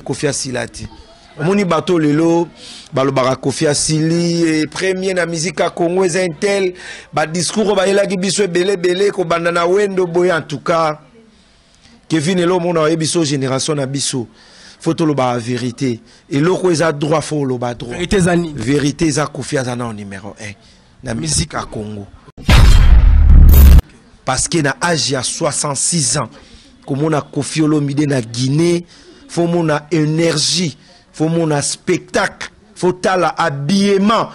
kofi asila te omoni bato lelo balobaka kofi asili eh, premier na miziki ya congo eza intel badiscours oyo bayelaki biso ebele ebele kobanda na wendo boye en tout cas kevin elo omona oye biso génération na biso fo tolobaka verité eloko eza droit fo oloba droit verité eza kofi aza nao numero 1 na musique ya Congo parce que na âge ya 66 ans komona Koffi Olomide na Guinée faut mona énergie faut mona spectacle faut tala habillement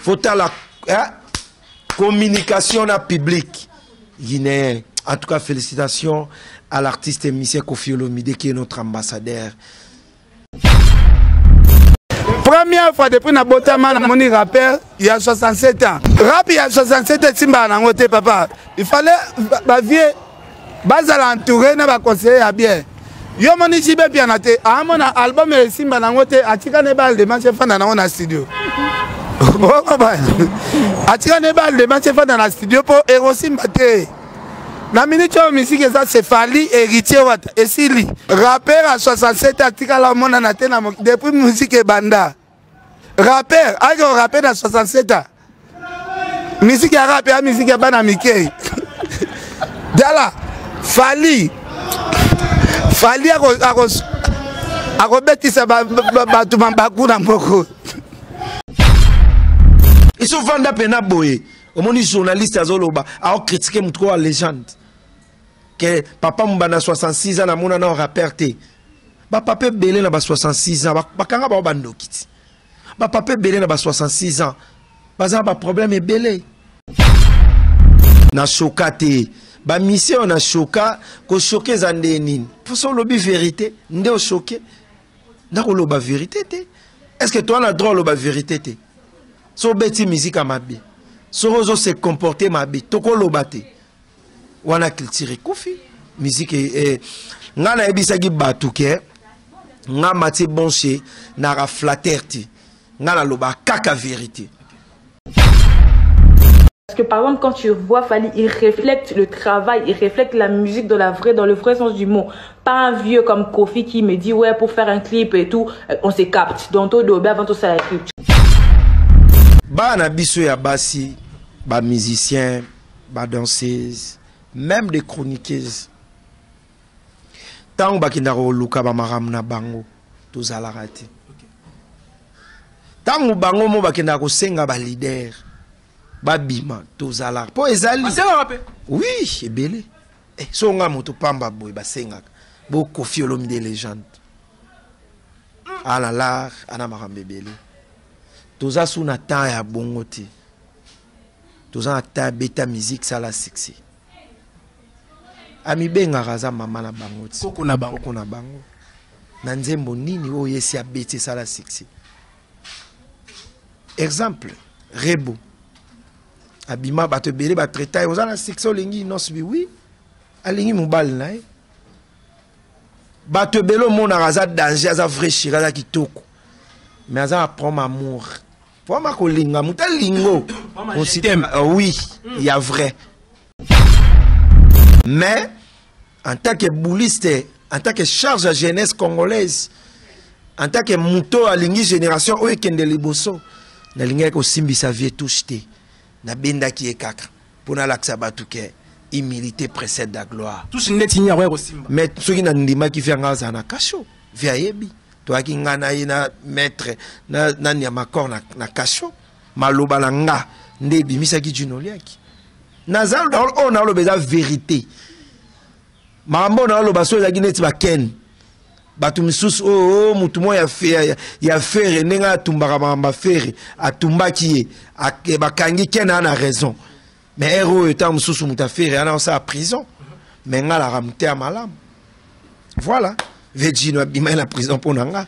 faut tala hein? communication na public guinéen en tout cas félicitations à l'artiste émissien Koffi Olomide qui est notre ambassadeur première fois depuis na botama namoni rappeur ya 67 ans rap ya 67 esimbaka nango te papa il fallait bavie bazala entouré na baconseiller ya bien yo moni jibe piana te amona ah, album ya esimba nango te atika ne bal de manche efanda nango na studio atika ne bal de manche efanda na studio mpo ekosimba te na miniti oyo miziki eza sefali héritier wata esili rapper ya 67 atikala omonana te na moki depuis miziki ebanda rapper ake orape na 67 a miziki ya rape ya miziki ya bana mike dala fali fali akobetisa bato mabaku na moko esovanda mpe na boye omoni journaliste azoloba aokritike motu koya legende ke papa moba na 66 ans namona nao rapper te bapapa ebele na ba 66 ans bakanga bao bandoki ti bapapa ebele na ba 66 ans baza na baproblème ebele na shoka te bamisio na shoka koshoke eza nde nini mposo olobi verité nde oshoke ndako loba verite te est ce que toi na droit loba verite te so beti musique ya mabe soki ozo se comporter mabe tokoloba te wana culture ekufi musique eh, eh. ngai nayebisaki bato ke ngai matie bonche naka flatter te ngai naloba kaka verite Parce que par exemple, quand tu vois Fali, il reflète le travail, il reflète la musique dans, la vraie, dans le vrai sens du mot. Pas un vieux comme Kofi qui me dit, ouais, pour faire un clip et tout, euh, on se capte. Dans tout dobe avant tout ça, la clip. Bana biso ya basi, ba musiciens, ba danseuses, même des chroniqueuses. Tango bakenda ko luka ba maram na bango, tozala raté. Tango bango mo bakenda ko senga ba leaders. babima tozalaka mpo ezali oui ebele eh, so nga moto pamba boye basengaka bo kofi olomi de legende hmm. ana lar ana makambo ebele toza su na temps ya bongo te toza na temps ya beta musique sala succès amibengaka aza mama na bango ti koko na bango na nzembo nini oyo esi abeti esala succès exemple rebo abima bato ebele batraita ye oza na succès olingi inos bi wi alingi mobali na ye bato ebele omonaka aza danger aza vrai chiri aza kitoko mais aza na problème amour problème akolinga moto alingo euh, oui ya vrai mais en tant que bouliste en tant que charge ya jeunesse congolaise en tant que moto alingi génération oyo ekende liboso nalingaki kosimbisa vie touche te nabendaki ye kaka mpo nalakisa bato ke humilité précède la gloire touche ndeti nini akoya kosimba mais soki nandimaki vie yanga azala na kasho vie ayebi toyaki ngai na ye na maître na, na nyama corps na, na kasho maloba na nga nde ebimisaki jino oliaki naza oyo naoloba eza verité makambo oyo naoloba so ezalaki neti bakene bato misusu oyo oh, oh, motu moko ya, ya fere ndenge atumbaka makambo ya fere atumbaki ye eh, bakangi ken aa na raison me ere oyo ntango mosusu moto ya fere ana osala prison me nga alaka mote ya malamu voilà vejino abimai na prison mpo na nga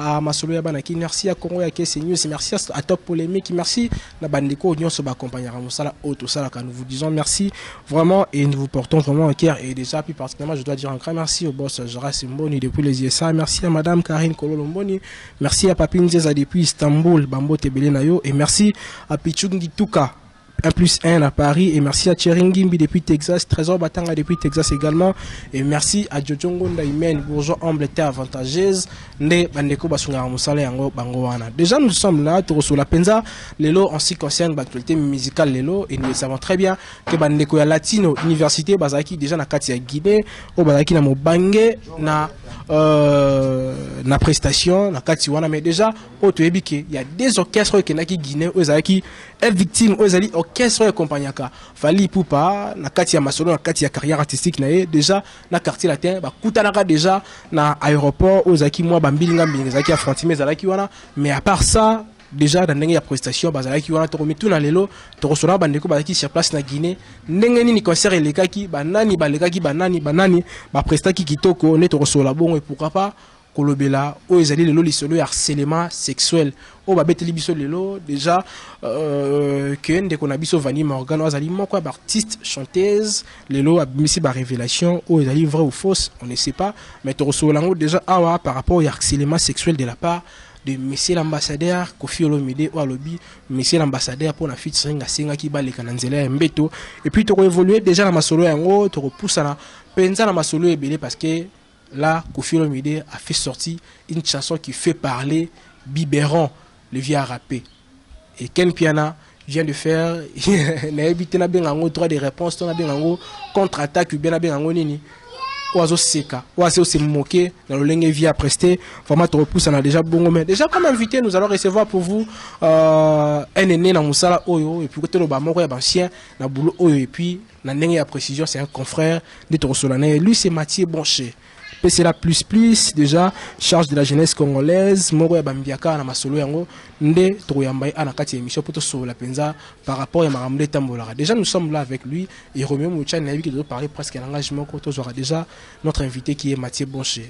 Ah, masolo ya bana kin merci ya congo ya kese news merci à top polemique merci na bandeko nyonso baaccompagnaka mosala oyo tosalaka nous vous disons merci vraiment et nous vous portons vraiment un cœur et déjà plus particulièrement je dois dire un grand merci au boss Joras Mboni depuis les USA merci à madame Karine Kololo Mboni merci à Papi Nzeza depuis Istanbul Bambo Tebele Nayo et merci à Pichungi Tuka 1 plus 1 à Paris. Et merci à Thierry Ngimbi depuis Texas, Trésor Batanga depuis Texas également. Et merci à Jojo Ngonda Imen, bourgeois humble terre avantageuse. Ne bandeko basunga musala yango bango wana. Déjà nous sommes là, tout sur la penza, lelo en ce qui concerne l'actualité musicale lelo et nous savons très bien que bandeko ya latino université bazaki déjà na kati ya Guinée, au bazaki na Mobange na euh, na prestation na kati wana mais déjà au toyebi que il y a des orchestres qui na ki Guinée, eux qui El Victime oyo ezali orchestre oyo ekompanyaka Fally Ipupa na kati ya masolo na kati ya carrière artistique na ye déjà na quartier latin bakutanaka déjà na aéroport oyo ezalaki mwa bambilinga mbilinga ezalaki ya Frontime ezalaki wana mais à part ça déjà na ndenge ya prestation bazalaki wana tokomituna lelo tokosolola bandeko bazalaki sur place na Guinée ndenge nini concert elekaki banani balekaki banani banani baprestaki kitoko nde tokosolola bongo et pourquoi pas kolobela oyo ezali lelo lisolo ya harcèlement sexuel oyo babeteli biso lelo déjà euh, que ndeko na biso Vanny Morgan oyo azali moko ya baartiste chanteuse lelo abimisi ba révélation oyo ezali vrai ou fausse on ne sait pas mais tokosolola yango déjà awa par rapport ya harcèlement sexuel de la part de monsieur l'ambassadeur Kofi Olomide oyo alobi monsieur l'ambassadeur mpo na featuring asengaki baleka na nzela ya mbeto et puis tokoévoluer déjà na masolo yango tokopusana mpenza na masolo ebele parce que Là, Kofi Olomide a fait sortir une chanson qui fait parler Biberon, le vieux rappé. Et Ken Piana vient de faire nayebi te nabenga yango droit de réponse to nabenga yango contre attaque ou bien nabenga yango nini oyo azoseka oyo asi ose moke na lolenge vie apreste vraiment tokopusana déjà bongo mais déjà comme invité nous allons recevoir pour vous euh, un aîné na mosala oyo epuis toloba moko ya bancien na boulot oyo epuis na ndenge ya precision c'est un confrère nde tokosolola na ye lui c'est Mathieu Bonche mpe c'est la plus plus déjà charge de la jeunesse congolaise moko ya bambiaka na masolo yango nde tokoyamba ye a na kati ya émission mpo tosolola mpenza par rapport ya makambo nde etambolaka déjà nous sommes là avec lui et romeo mochani nayebi ke tozoparle presque langage moko tozwaka déjà notre invité qui est Mathieu Bonche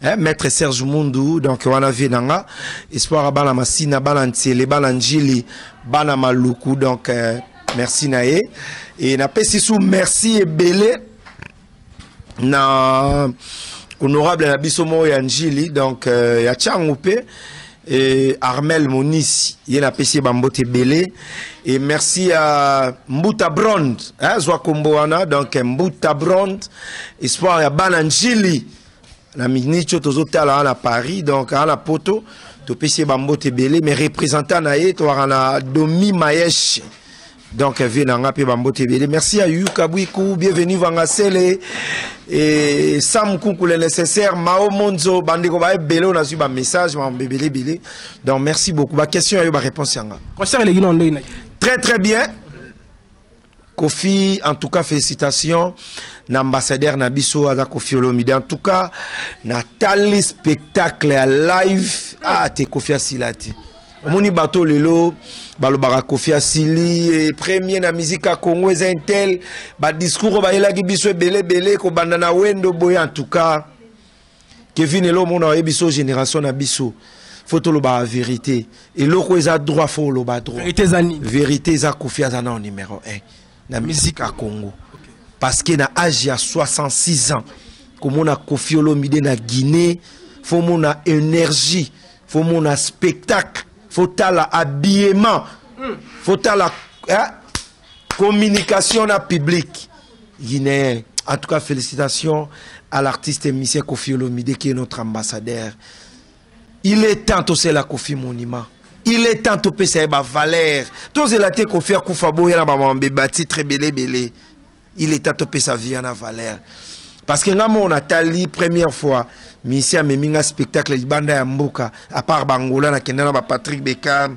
Eh, maître Serge Mundu donc wana vie nanga espoir bana masina bana ntiele bana njili bana maluku donc euh, merci na ye et na pesi sous merci ebele na honorable na biso moko ya njili donc euh, ya changu pe et Armel Monisi ye na pesi ba mbote ebele et merci à Mbuta Brond hein, zwa kombo wana donc Mbuta Brond espoir ya bana njili na minute oyo tozotala wana na paris donc wana na poto topesi ye bambote ebele mais représentant na ye towaka na domi mayesh donc vie na nga mpe bambote ebele merci ya yuka bwiku bienvenu vangasele e sam kuku le nécessaire mao monzo bandeko ba ebele oyo nazwi bamessage mambo ebele ebele donc merci beaucoup baquestion ya yo baréponse yanga concert eleki na ndenge très très bien Kofi en tout cas félicitations na ambassadeur na biso aza Kofi Olomide en tout cas na tali spectacle ya live ah te Kofi asila te omoni bato lelo balobaka Kofi asili premier na musique ya Congo eza intel ba discours oyo bayelaki biso ebele ebele kobanda na wendo boye en tout cas Kevin elo mona oye biso génération na biso faut toloba vérité eloko eza droit faut oloba droit vérité eza nini vérité eza kofi aza nao numéro 1 na musique ya congo parce que na age ya 66 ans komona kofi olomide na guinée faut mona énergie faut mona spectacle faut tala habillement hmm. faut tala hein? communication na public guinéen en tout cas félicitations à l'artiste émissien kofi olomide qui est notre ambassadeur il est temps tosela kofi monument il est temps topesa ye bavaleur tozela te kofi akufa boya na bamambe batitre ebele ebele il est temps topesa vie wana valeur parce que nga moko natali première fois misi amemi nga spectacle libanda ya mboka apart bangola nakenda na bapatrick becam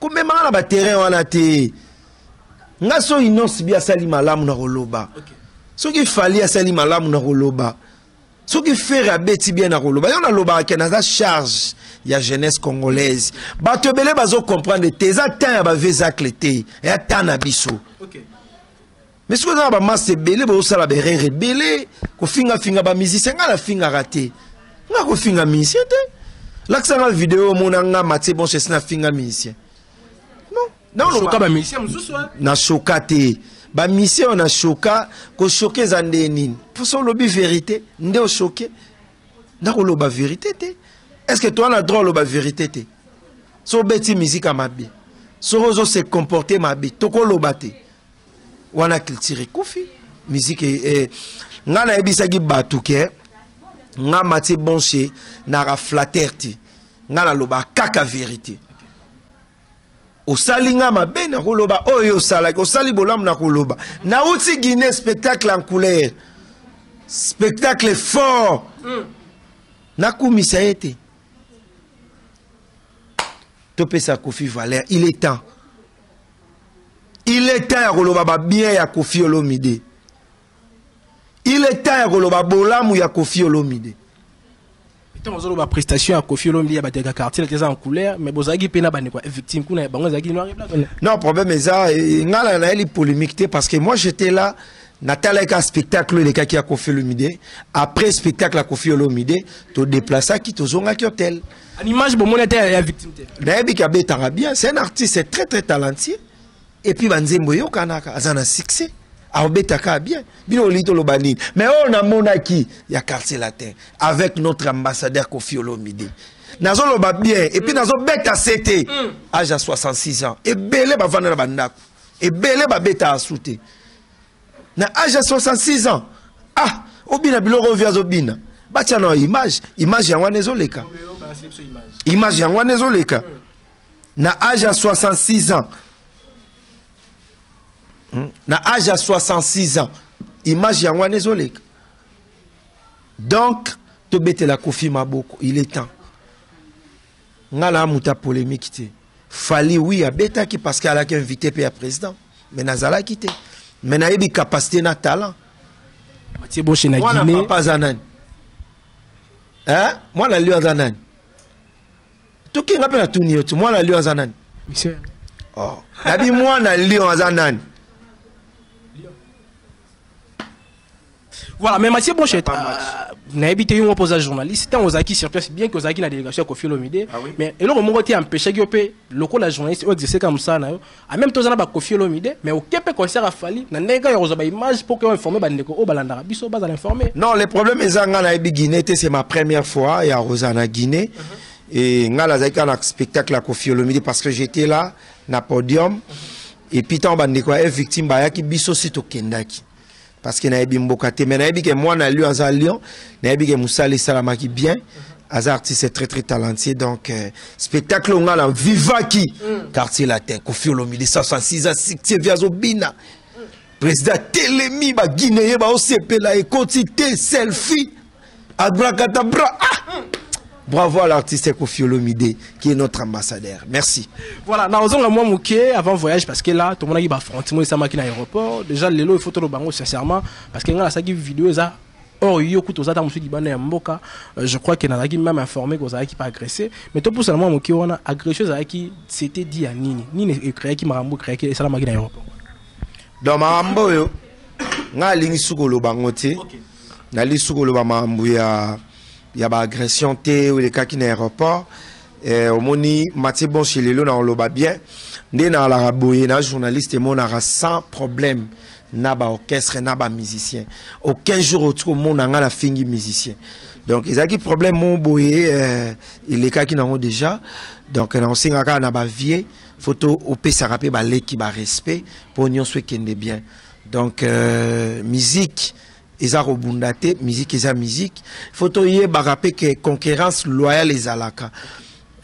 komema nga na baterrain wana te nga so inonce bi asali malamu na koloba okay. soki fali asali malamu na koloba soki fere abeti bien na koloba yo nalobaka ke naza charge ya jeunesse congolaise bato ebele bazo comprendre te eza temps ya baviesacle te ya temps na biso okay. mais soki eza na bamasta ebele bozosala berere ebele kofingafinga bamusicien ngai nafingaka te ngai kofinga musicien te lakisa ngai video omona ngai matie bonso esi nafinga musicien nasoka te bamisien oyo nasoka kosoke eza nde nini poso olobi verité nde osoke nakoloba verité te est ce que toa na droit oloba verité te so obeti mizika mabe soki ozo se comporte mabe tokoloba te wana culture ekufi musique eh, eh. nga nayebisaki bato ke nga matie bonche naka flatter te nga naloba kaka verité osali nga mabe nakoloba oyo osalaki osali bolamu nakoloba nauti guinée spectacle en couleur spectacle fort mm. nakumisa ye te topesa kofi valeur il est temps il est temps ya koloba ba bien ya Koffi Olomide il est temps ya koloba bolamu ya Koffi Olomide ntango ozoloba prestation ya kofi olombi ya bato ya quartier lete eza en couleur mais bozalaki mpe na bandeko ya victime kuna ya bango ezalaki noir non problème eza eh, ngai na nayeli polémique te parce que moi j'étais là natalaki ka spectacle elekaki ya kofi olomide après spectacle ya kofi olomide todeplasaki tozongaki hotel En image, bon, mon était à la victime. Nayebi kabetaka bien, c'est un artiste très très talentueux. Et puis banzembo yo kanaka, azana succès. aobetaka bien bino olingi toloba nini mais oyo namonaki ya quartier latin avec notre ambassadeur kofi olomide nazoloba bien epuis mm. nazobeta sete mm. age ya 66 ans ebele bavanda na bandako ebele babeta asu te na age ya 66 ans ah obina biloko oyo vi azobina batya na image image yango wana ezoleka image yango wana ezoleka na age ya 66 ans hmm? na age ya 66 ans image yango wana ezoleka donc tobetela kofi maboko il est temps nga na amuta polémique te Fally oui abetaki parce que alaki invité pe ya président mais nazalaki te mais nayebi capacité na talent Mathieu Boshe na Guinée mwana papa aza nani hein mwana lio aza nani tokenga mpe natuni yo ti mwana lio aza nani oh. nabi mwana lio aza nani Voilà, mais Mathieu Bochet, nayebi te yo moko oza journaliste ntango ozalaki sur place bien que ozalaki na délégation ya kofi olomide ah mais eloko moko te empêchaki yo mpe lokola journaliste oyo exerce kaka mosala na yo a même toza na bakofi olomide mais oke mpe concert afali na ndenge kaka ya kozwa baimage mpo ke oinforme bandeko oyo balandaka biso bazala informe non le problème eza ngai nayebi guinée te c'est ma première fois ya kozala na guinée uh -huh. e ngai nazalaki kaka na spectacle ya kofi olomide parce que j'étais là na podium uh -huh. Et puis tant bande quoi est victime ba yaki biso si to kendaki. Parce que nayebi mboka te mais nayebi que moi na lui aza Lyon, nayebi que musali salamaki bien. Aza artiste très très talentueux donc euh, spectacle on a la viva qui mm. quartier latin Kofi Olomide 166 ans succès via Zobina. Président Telemi ba Guinéen ba osepela ekoti te selfie. Abracadabra. Ah! Bravo à l'artiste Kofiolo Mide qui est notre ambassadeur. Merci. Voilà, na ozonga moi muke avant voyage parce que là tout le monde a eu ba frontière ça maki na aéroport. Déjà lelo il faut tout le bango sincèrement parce que ngala ça qui vidéo ça or yo kutu oza ta mosusu libanda ya mboka euh, je crois que nazalaki même informé kozalaki pas agressé mais topusana mwa moke wana agression ezalaki c'était dit ya nini nini ecreaki makambo ecreaki esalamaki na aéroport donc makambo oyo ngai alingi suki oloba yango te nali suka oloba makambo ya ya baagression te olekaki na aéroport eh, omoni matie bonche lelo na oloba bien nde na alaka boye na journaliste emonaka sans problème na baorchestre na bamusicien aucun jour okoki komona ngai nafingi musicien donc ezalaki problème moko boye eh, elekaki nango déjà donc na osenga kaka na bavie foto opesaka mpe baleki barespect mpo nyonso ekende bien donc euh, musique eza kobunda te musique eza musique faut toyebaka mpe ke concurrence loyale ezalaka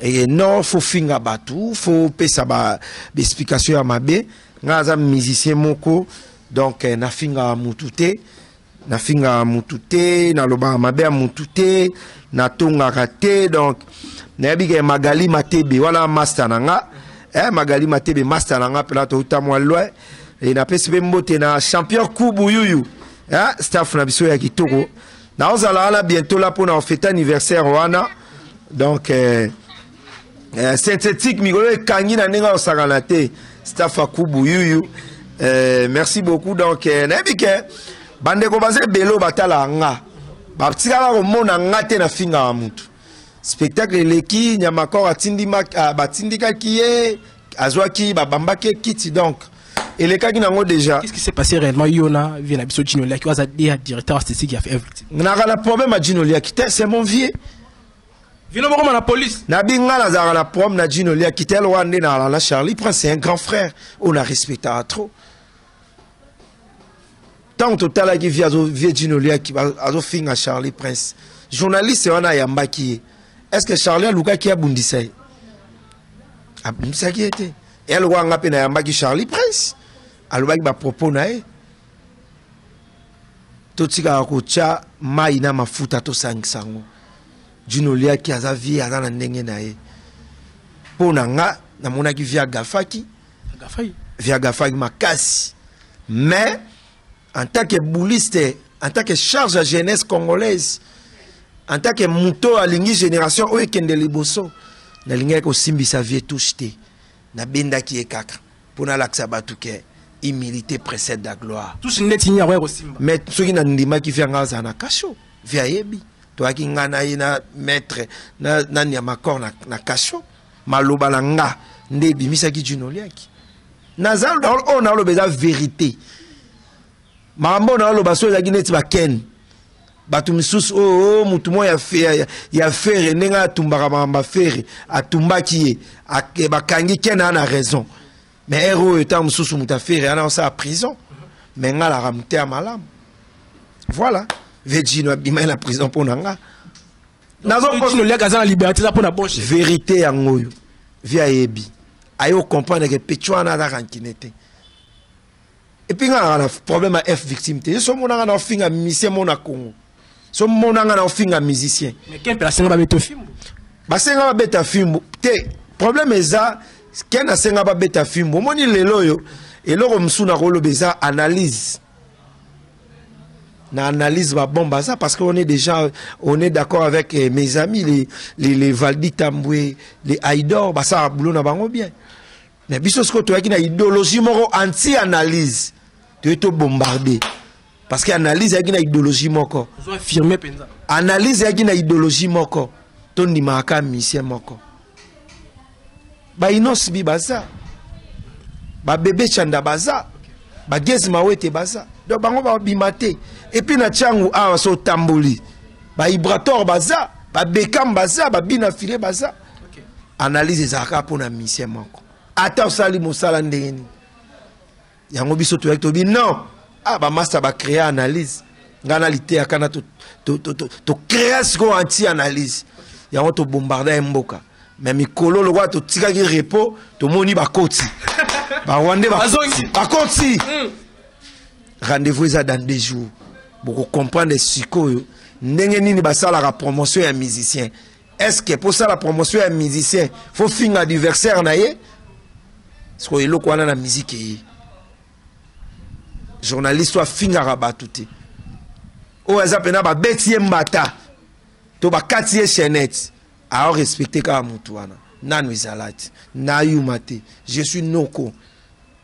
e, non faut finga bato faut pesa ba explication ya mabe ngai aza musicien moko donc eh, nafingaka mutu te nafingaka mutu te nalobaka mabe ya mutu te natongaka te donc nayebi ke magali matebe wana masta na nga eh, magali matebe masta na nga mpena touta mwa loin e napesi mpe mbote na champion kubu yuyu eh, staff na biso ya kitoko naozala wana bientôt la mpo na ofete anniversaire wana donc eh, eh, synthétique mikolo ekangi na ndenge aosakana te staff ya kubu yuyu eh, merci beaucoup donc eh, nayebi ke bandeko baza ebele oyo batalaka nga batikala komona nga te nafingaka motu spectacle eleki nyamakor atindimaki ah, batindikaki ye azwaki babambaki ye kiti donc elekaki nango déjà qu'est-ce qui s'est passé réellement yo na vie na biso Gino Liaki oza dia directeur artistique ya Everything naka na problème à Gino Liaki te c'est mon vieux vino bokoma na police na binga nazalaka na problème na Gino Liaki te lowa nde na na Charlie Prince c'est un grand frère on a respecté trop ntango totalaki vie azo vie jino liaki azofinga charlie prince journaliste wana ayambaki ye est ce que charlie alukaki abundisa ye abundisaki ye te e alokola nga mpe nayambaki charlie prince alobaki bapropos na ye totikaka kotya mai na mafuta tosangisa yango jino liaki aza vie aza na ndenge na ye mpo na nga namonaki vie agafaki viagafagi makasi mais en tant que bouliste en tant que charge ya jeunesse congolaise en tant que moto alingi génération oyo ekende liboso nalingaki kosimbisa vie touche te nabendaki ye kaka mpo nalakisa bato ke humilité précède la gloire mais soki nandimaki vie yanga azala na kasho vie ayebi toyaki ngai na ye na maître na, na niamakor na, na kasho maloba na nga nde ebimisaki jino oliaki naza oyo naoloba eza verité makambo oyo naoloba so ezalaki neti bakene bato misusu oyo oh, oh, motu moko ya fere ndenge atumbaka makambo ya fere atumbaki ye eh, bakangi ken aa na raison me ere oyo ntango mosusu moto ya fere ana osala prison me nga alaka moteya malamu voilà vejino abimai na prison mpo na nga nazo kosino liaka aza na liberté eza mpo na boshe vérité yango oyo vi ayebi aye okomprendre ke pecho wana aza rankine te epuis nga nanga na problème ya f victime te yeso omonanga na ofinga misien mona congo so omonanga na ofinga musicien kempe asenga babeta fimbu basenga babeta fimbu te problème eza ken asenga babeta fimbu omoni lelo oyo eloko mosusu nakoloba eza analyse na analyse ba bon baza parce qu'on est déjà on est d'accord avec eh, mes amis les les, les Valdi Tamboué les Aïdor bah ça boulot na bango bien mais biso ce que tu as qui na idéologie moko anti analyse tu es tout bombardé parce que analyse yaki na idéologie moko affirmé penza analyse yaki na idéologie moko to ndimaka mission moko ba inos bi baza ba bebe chanda baza ba gezi mawete baza donc bango babima te epuis na tiangu awa ah, so otamboli ba ibrator baza ba bekam baza babina file baza okay. analyse ezalaka mpo na misien moko ata osali mosala ndenge nini yango biso toyaki tobi non ah bamasta bacrea analyse ngai na liteya kana tocrea sikoyo anti analyse yango tobombarda ye mboka me mikolo lokola totikaki repos tomoni bakoti barwande bakoti hmm. rendez-vous eza dans deux jours bokocomprendre sikoyo ndenge nini basalaka promotion ya musicien est-ce que pour ça la promotion ya musicien faut finga adversaire na ye sikoyo eloko wana na miziki eye journaliste oyo afingaka bato te oyo aza mpena babeti ye mbata to bakati ye chainete aorespecte kaka motu wana nanu ezala te nayuma te je suis noko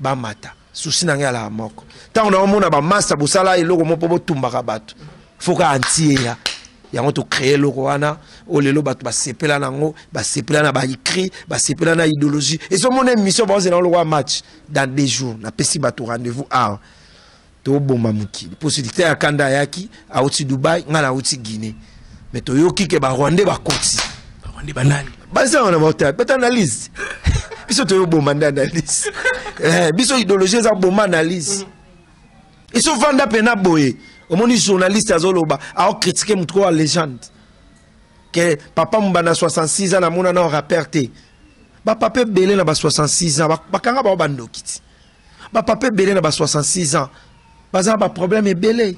bamata susi na ngai alaka moko ntango naomona bamasta bosala eloko moko mpo botumbaka bato foka antiyeya yango tocree eloko wana oyo lelo bato basepela na yango basepela na baécrit basepela na idéologie ezomona émission baozela yango lokola match dans deux jours napesi bato rendez-vous awa tobomba mokili mpo silitin ya kanda ayaki auti dubai ngai nauti guine me toyoki ke barwande bakoti barwande banani baza wana bata analyse biso toyobomba nde analyse eh, biso idéologie eza bomba analyse iso vanda mpena boye omoni journaliste azoloba aokritike motu oyo legende ke papa mobanda 66 ans namona nao rapper te bapapa ebele na ba 66 ans bakanga bao bandoki ti Ba papa ebele na ba 66 ans baza ba problème ebele.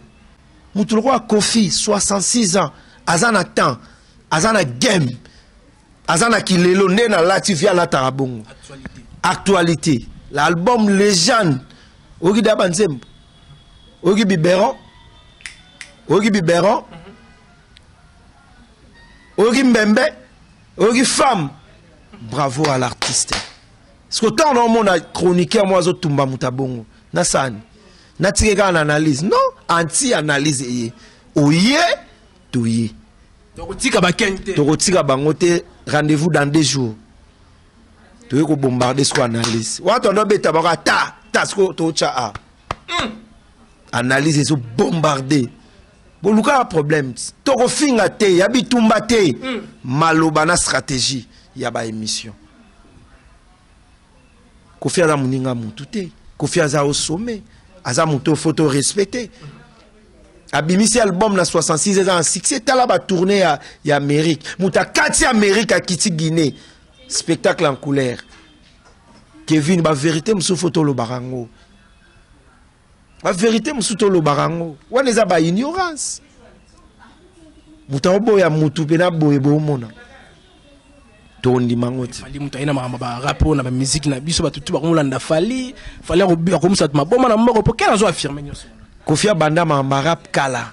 Mutu lokola Kofi 66 ans aza na temps, aza na game, aza na kilelo nde na lati via la tarabongo. Actualité. Actualité. L'album légende. Ogi daba nzembo. Ogi biberon. Ogi biberon. Mhm. Ogi mbembe. oyoki femme bravo à l'artiste siko ntango naomona chroniqueur moko azotumba moto abongo nasani natike kaka na analyse non anti analyse eye oye toye tokotika bakenge te tokotika bango te rendez-vous dans deux jours toye kobombarde siko analyse wana tondo beta bango ata ta siko totya a hmm. analyse ezobombarde bolukaka problème tokofinga te ya bitumba te mm. maloba na stratégie ya baémission kofi aza moninga mutu te kofi aza au sommet aza moto oyo foto respecte abimisi album na 66 eza na succès tala batourne ya, ya amérique moto akati amérique akiti guinée spectacle en couleur kevin baverité mosusu foto olobaka yango ba verite mosusu tolobaka yango wana eza ba ignorance moto aoboya motu mpe na boye boomona tondima yango te fali moto aye na makambo barapo na bamiziki na biso bato tu bakomolanda fali fali akomisa bato maboma na mboko mpo kena azo affirme nyonso kofi abanda makambo arap kala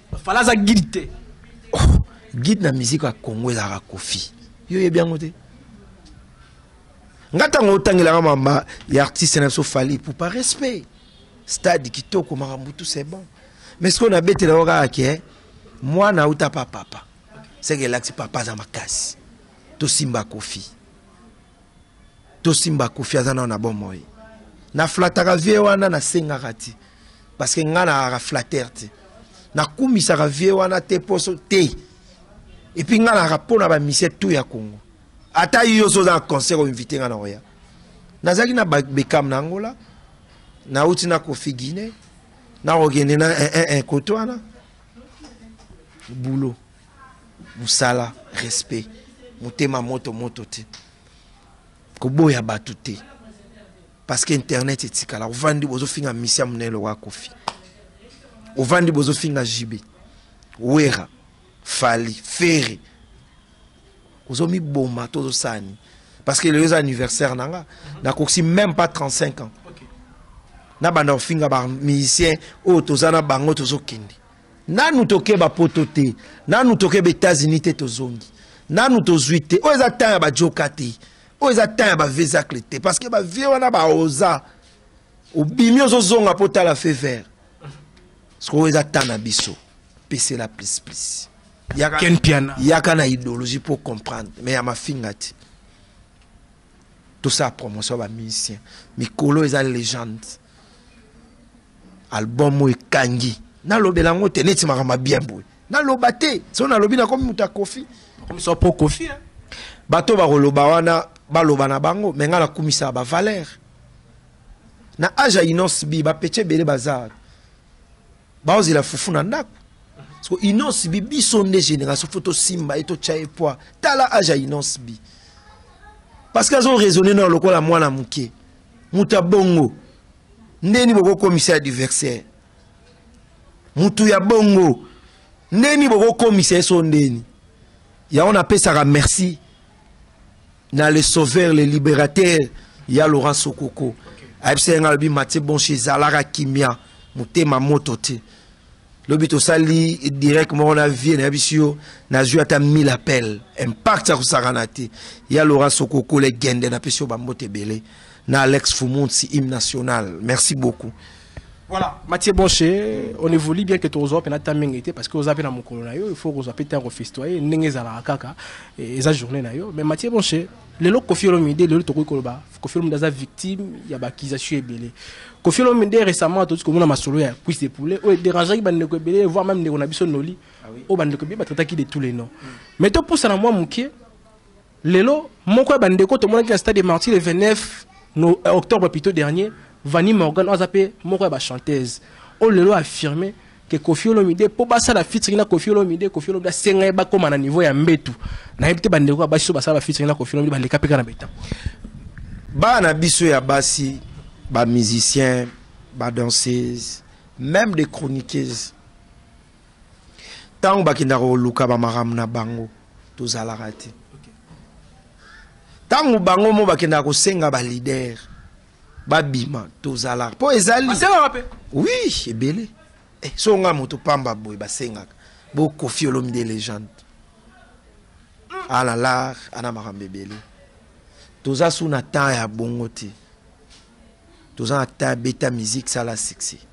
fala aza guide te oh, guide na musique ya congo ezalaka kofi yo oyebi yango te nga ntango otangelaka mamba ya artiste na biso fali pour par respect stade kitoko makambo tout c'est bon mais sikoyo nabetela yo kaka ke mwana auta pa papa seke elakisi papa aza makasi tosimba kofi tosimba akufi aza nao na bomoi naflataka vie wana nasengaka ti parceke ngai nayaka flatere te nakumisaka vie wana te poso te epuis ngai nayaka mpo na bamisie tu ya congo ata yo ozo oza na concert oinvite ngai na oya nazalaki na bekam na angola nauti na kofi guine nakokende na eh, eh, eh, koto wana boulot Musala respect motema moto moto te koboya batu te parce que internet etikala ovandi bozofinga misia monene lokola kofi ovandi bozofinga jibe wera fali fere ozomiboma to ozosala nini parce que lelo eza anniversaire na nga nakosi même pas 35 ans nabanda kofinga bamusicien oyo toza na bango tozokende nanu toke bapoto te nanu toke baetats-unis te tozongi nanu tozwi te oyo eza temps ya bajoka te oyo eza temps ya bavesacle te parce que bavie wana baoza obimi ozozonga mpo otala fe vert soki oyo eza temps na biso pesela plus plus yaka, yaka na idéologie mpo comprendre mais ya mafinga te tosala promotion ba musicien mikolo eza legende album oyo ekangi nalobela yango te neti makambo bien boye naloba te soki nalobi nakomi moto ya kofi omiso po kofi hein? bato bakoloba wana baloba na bango me ngai nakumisaka bavalere na age ya inonce bi bapeti ebele baza baozela fufu na ndako so inonce bi biso nde génération fo tosimba ye totya ye poa tala age ya inonce bi parce que azo raisonne nayo lokola mwana moke moto ya bongo ndeni bokokomisa ya diversaire motu ya bongo ndeni bokokomisa ye so ndeni yango napesaka merci na le sauveur le libérateur ya laurent sokoko ayebisa ye ngai alobi matie bonche ezalaka kimia motema moto te lobi tosali direct moko na vie nayebisi yo nazwi ata 1000 appel impact ya kosakana te ya laurent sokokole gende napesi yo bambote ebele na alex fumunsi hymne national merci beaucoup Voilà, Mathieu Bonche, on évolue bien que Tozo pena taming était parce que Ozape na mukolo na yo, il faut Ozape ta ko festoyer, ndenge za la kaka, et za journée na yo. Mais Mathieu Bonche, le lo Kofi Olomide, le lo Tokoi Koloba, Kofi Olomide za victime, ya ba accusation ebele. Kofi Olomide récemment, tout ce qu'on a masolo ya cuisse de poulet, ou dérangeant qui bande ko ebele, voire même ndeko na biso noli, ah ou bande ko ebele, ba traitaki de tous les noms. Mm. Mais to pousse na moi mouké, Lelo, moko ya bandeko tomonaki na stade de martyr le 29 no, euh, octobre plutôt dernier, Vanny Morgan, oyo aza mpe moko ya bachanteuse oyo lelo affirme ke Koffi Olomide mpo basala featuring na Koffi Olomide, Koffi Olomide asenga ye bakoma na niveau ya mbetu. Nayebi te bandeko ya basi oyo basala bafeaturing na Koffi Olomide baleka mpe kaka na beta. Bana biso ya basi, ba musiciens, ba danseuses, même des chroniqueuses ntango bakendaka koluka bamakambo na bango tozalaka te ntango bango mo bakendaka kosenga balider babima tozalaka mpo ezali wi ebele eh, so ngai moto pamba boye basengaka bokofi olomi de legende alalar ah ana makambo ebele toza su na temps ya bongo te toza na temps ya beta musique sala succès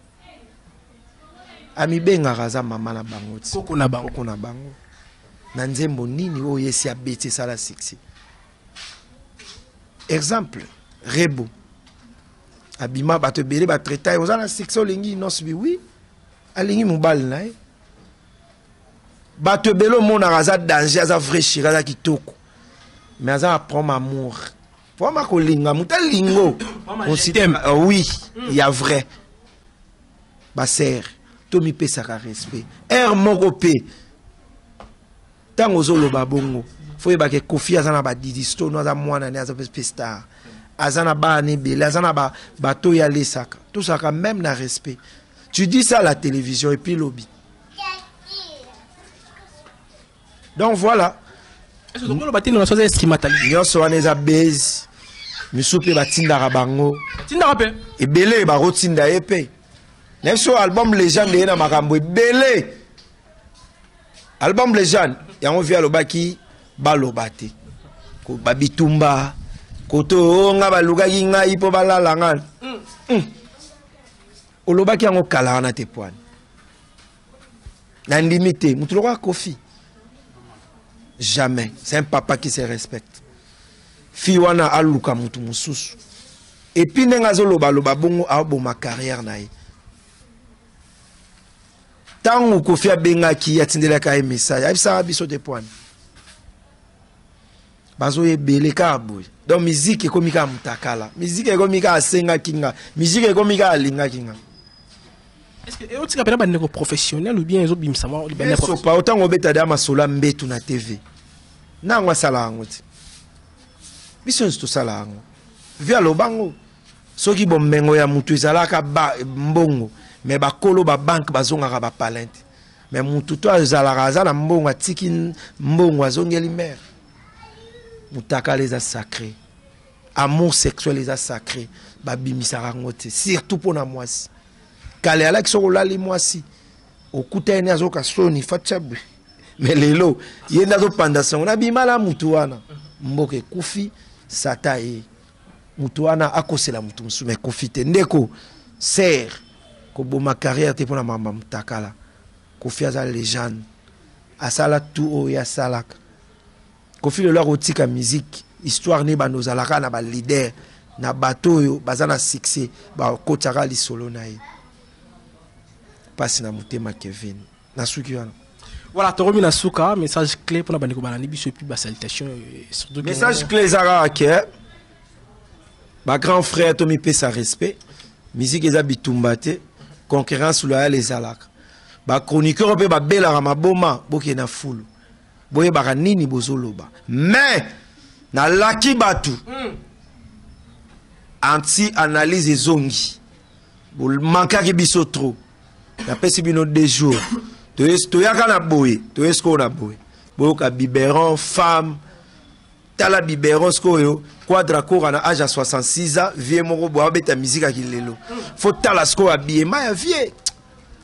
amibengaka aza mama na bango ti koko na bango koko na bango na nzembo nini oyo yesi abeti esala succès exemple rebo abima bato ebele batraita ye oza na succès olingi inosbi wi alingi mobali na ye bato ebele omonaka aza danger aza vrai chiri aza kitoko mais aza na prom amour Poma kolinga muta lingo. On s'y t'aime. Ah oui, il y a vrai. Ba sœur, to mi pesaka respect. Air moko pe. Tango zo loba bongo. Faut yeba ke Kofi azana ba didisto, no aza mwana ne aza pe star. Azana ba ne bele, azana ba bato ya lesaka. Tout ça quand même na respect. Tu dis ça à la télévision et puis lobby. donc voilà nyonso wana eza base misusu mpe batindaka bango ebele bakotinda ye mpe na biso album legende ye na makambo ebele album legende yango vi alobaki baloba te babitumba koto oh, nga balukaki ngai mpo balala nga mm. mm. olobaki yango kala wana te pwani na ndimi te moto lokola kofi jamais c'est un papa qui se respecte fille wana aluka moto mosusu epuis ndenge azolobaloba bongo aoboma carrière na ye ntango kofi abengaki atindelaka ye message ayebisaka biso te pwani bazoya ebele kaka boye donc miziki ekomi kaka mutakala miziki ekomi kaka asengaki nga miziki ekomi kaka alingaki nga eh, otika mpena bandeko professionnel obien ezobimisa mwa libasopa otango obeta deya masolo ya mbetu na tv na yango asala yango ti biso nyonso tosala yango vi aloba ngo soki bomengo ya motu ezalaka mbongo me bakolo babanke bazongaka bapalente mais mutu to azalaka aza na mbongo atiki mbongo azongeli mère mutakala eza sacré amour sexuel eza sacré babimisaka yango te surtout mpo na mwasi kale alaki soki olali mwasi okuta ye nde azoka soni facabe me lelo ye nde azopanda sango nabima na mutu wana mboka ekufi sata ye mutu wana akosela mutu mosusu mais kofi te ndeko ser koboma carrière te mpona mamba mutakala kofi aza legende asala tout oyo ye asalaka kofi lelo akotika musique histoire ne bando ozalaka na baleader na bato oyo baza na succès bakotaka lisolo na ye mpasi na motema kevin na suki wana voilà tokomi na suka message clé mpona bandeko balandi biso epuis basalutation euh, surtout message clé eza kaka ke bagrand frère tomipesa respect miziki eza bitumba te concurrence loyale ezalaka bachroniqueur mpe babelaka maboma bokende na fulu boyebaka nini bozoloba mais nalaki bato hmm. anti analyse ezongi bomankaki biso trop napesi bino deux jours toyaka na boye toye sikoyo na boye boyoka biberon femme tala biberon sikoyo quadra kora na age ya 66 ans vie moko boye abeta miziki ya kilelo fo tala sikoyo abiyema ya vie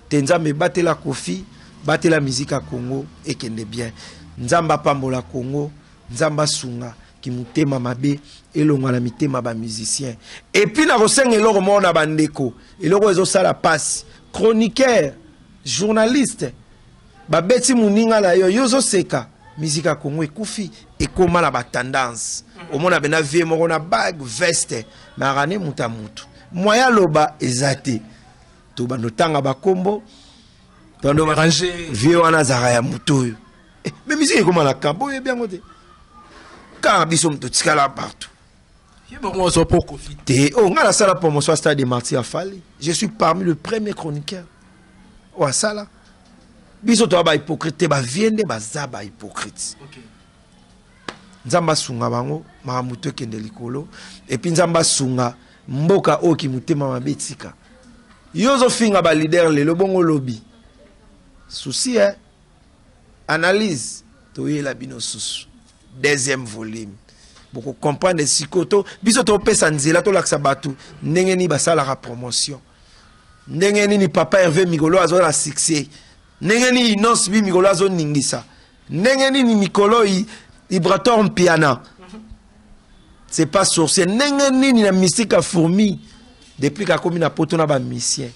te nzambe batela kofi batela miziki ya congo ekende bien nzambe apambola congo nzambe asunga kimutema mabe elongwa na mitema ba musicien epuis nakosenga eloko moko na bandeko eloko ezosala pasi chroniqueur journaliste babeti moninga na yo yo ozoseka miziki ya kongo ekufi ekoma na batendance omona bena vie moko na bag veste marane moto ya motu mwa ya loba eza te tobanda otanga bakombo vie wana azalaka ya moto oyo Eh, mais musique ekoma na camp boyebi yango te kaka biso moto tikala partout te oyo oh, ngai nasala promotion ya stade de martir afali je suis parmi le premier chroniqueur oyo asala biso toya bahypocrite te bavie nde baza bahypocrite nzambe asunga bango makambo to ekende likolo epuis nzambe asunga mboka oyo kimotema mabe etika yo ozofinga balider lelo bongo lobi susi e eh? analyse toyela bino susu deuxième volume bokocomprendre sikoyo to biso topesa nzela tolakisa bato ndenge nini basalaka promotion ndenge nini papa herve mikolo aza na succès ndenge nini inos bi mikolo azoningisa ndenge nini mikolo ibrator mpiana c'est pas sorcier ndenge nini na mystique ya fourmi depuis kakomi na poto na bamisien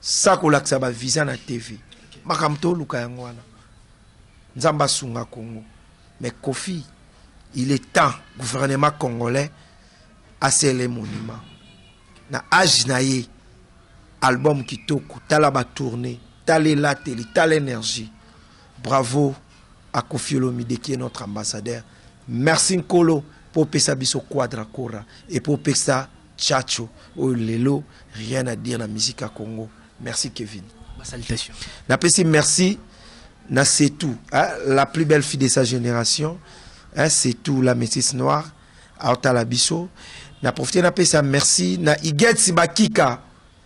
sa kolakisa ba visa na tv makambo toluka yango wana nzambe asunga congo mais kofi il est temps gouvernement congolais asele monument na age na ye album kitoko tala batourne tala elateli tala énergie bravo à kofi olomide qui est notre ambassadeur merci nkolo mpo opesa biso quadra cora epo opesa Tchatcho oyo lelo rien à dire na musique ya Congo. Merci Kevin. Ma salutation. Na pesi merci na c'est tout hein, la plus belle fille de sa génération hein, c'est tout la métisse noire aotala biso na profiter na pesa merci na Igets Bakika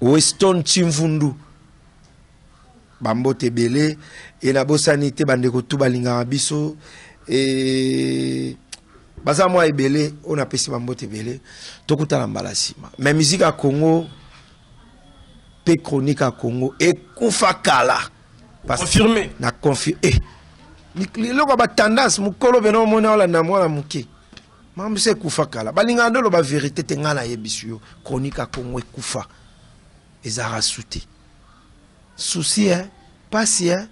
Weston Chimvundu bambote ebele e nabosani te bandeko tu balingaka biso e baza mwa ebele oyo napesi bambote ebele tokutana mbala nsima me miziki ya congo mpe chronique ya congo ekufa kala confirme na confirme eh, eloko ya batendance mokolo mpena omoni olanda mwana moke Makambo se ekufa kala. Balingaka nde oloba verite te ngai nayebisi yo chronique ya Congo ekufa. Ezalaka su te. Souci hein, pasi hein.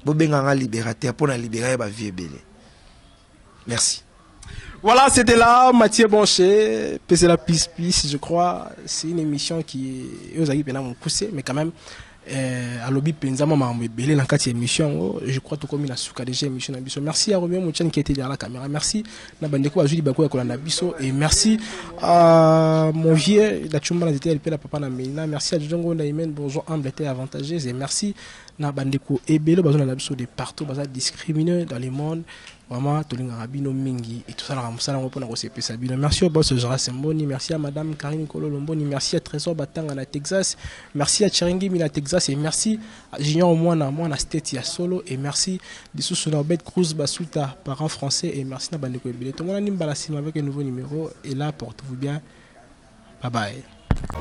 Bobenga ngai libérateur mpo na libéra ya ba vie ebele. Merci. Voilà, c'était là, Mathieu Boncher, Pesela Peace Peace, je crois. C'est une émission qui est aux agues, mais quand même, Eh, alobi penza mwa makambo ebele na kati ya émission yango je crois tokomi na suka déjà émission na biso merci ya romeo mochani qui était derrière la caméra merci na bandeko bazwi libako ya kolanda biso et merci à mon vieux dachumba na zete lpe la papa na meina merci à jojongo na imen bourgeois humble était avantageuse et merci na bandeko ebele bazolanda biso de partout baza discrimine dans le monde Vraiment, tolingaka bino mingi et tosalaka mosala yango mpona kosepelisa bino. Merci au boss Joras Mboni, merci à madame Karine Kololo Mboni, merci à Trésor Batanga na Texas, merci à Chirengimi na Texas et merci à Junior Mwana Mwana State ya solo et merci lisusu na Obed Cruz Basuta, parent français et merci na bandeko ebele. Tomonani mbala nsima avec un nouveau numéro et là portez-vous bien. Bye bye.